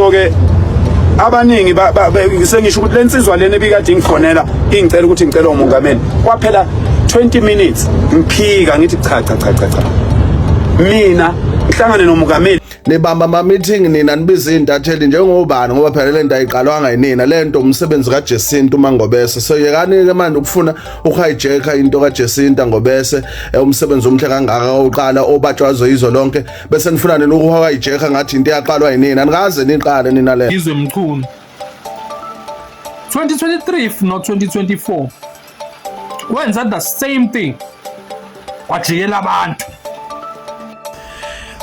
so ke abaningi sengisho ukuthi le nsizwa lena ebikade ingifonela ingicela ukuthi ngicela umongameli kwaphela 20 minutes ngiphika ngithi cha cha cha cha mina ngihlangane nomongameli nibamba ama meeting nina nibiza intatheli njengobani ngoba phela lento ayiqalwanga yinina lento umsebenzi ka Jacinta uMangobese so yekani ke manje ukufuna uhijacker into ka Jacinta Ngobese eh, umsebenzi omhle kangaka oqala obatshwazo izwe lonke bese nifuna nina ukuhoka ijekha ngathi into eyaqalwa yinina nikaze niqale nina le izwe mchunu 2023 no 2024 wenza the same thing kwajikela abantu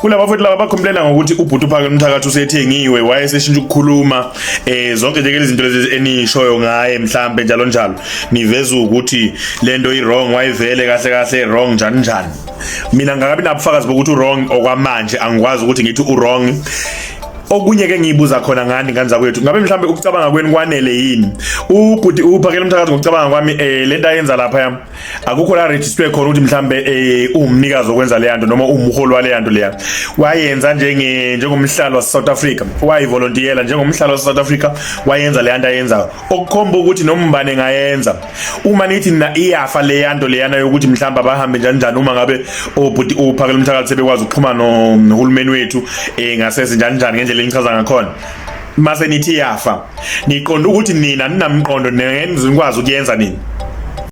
kulaba futhi laba bakhomplena ngokuthi ubhuti uphakela umthakathi usethengiwe wayeseshintsha ukukhuluma eh zonke nje izinto lezi enishoyo ngaye mhlambe njalo njalo niveza ukuthi lento i wrong wayivele kahle kahle wrong njani njani mina ngakabi nabufakazi bokuthi uwrong okwamanje angikwazi ukuthi ngithi uwrong okunye ke ngiyibuza khona ngani ngane zakwethu ngabe mhlambe ukucabanga kwenu kwanele yini ubhuti uphakela umthakathi ngokucabanga kwami eh lento ayenza lapha yami akukho la register khona ukuthi mhlambe eh umnikazi okwenza le yanto noma umholi wale yanto leya wayenza njenge njengomhlalo wase South Africa wayivolunteer njengomhlalo wase South Africa wayenza le yanto ayenzayo okukhomba ukuthi noma ubani engayenza uma nithi nina iyafa leyanto leyana yokuthi mhlawumbe abahambe njani njani uma ngabe obhuti uphakela umthakathi sebekwazi ukuxhuma nohulumeni wethu eh ngasese njani njani ngendlela engichaza ngakhona mase nithi yafa niqonda ukuthi nina ninamqondo nenze nikwazi ukuyenza nini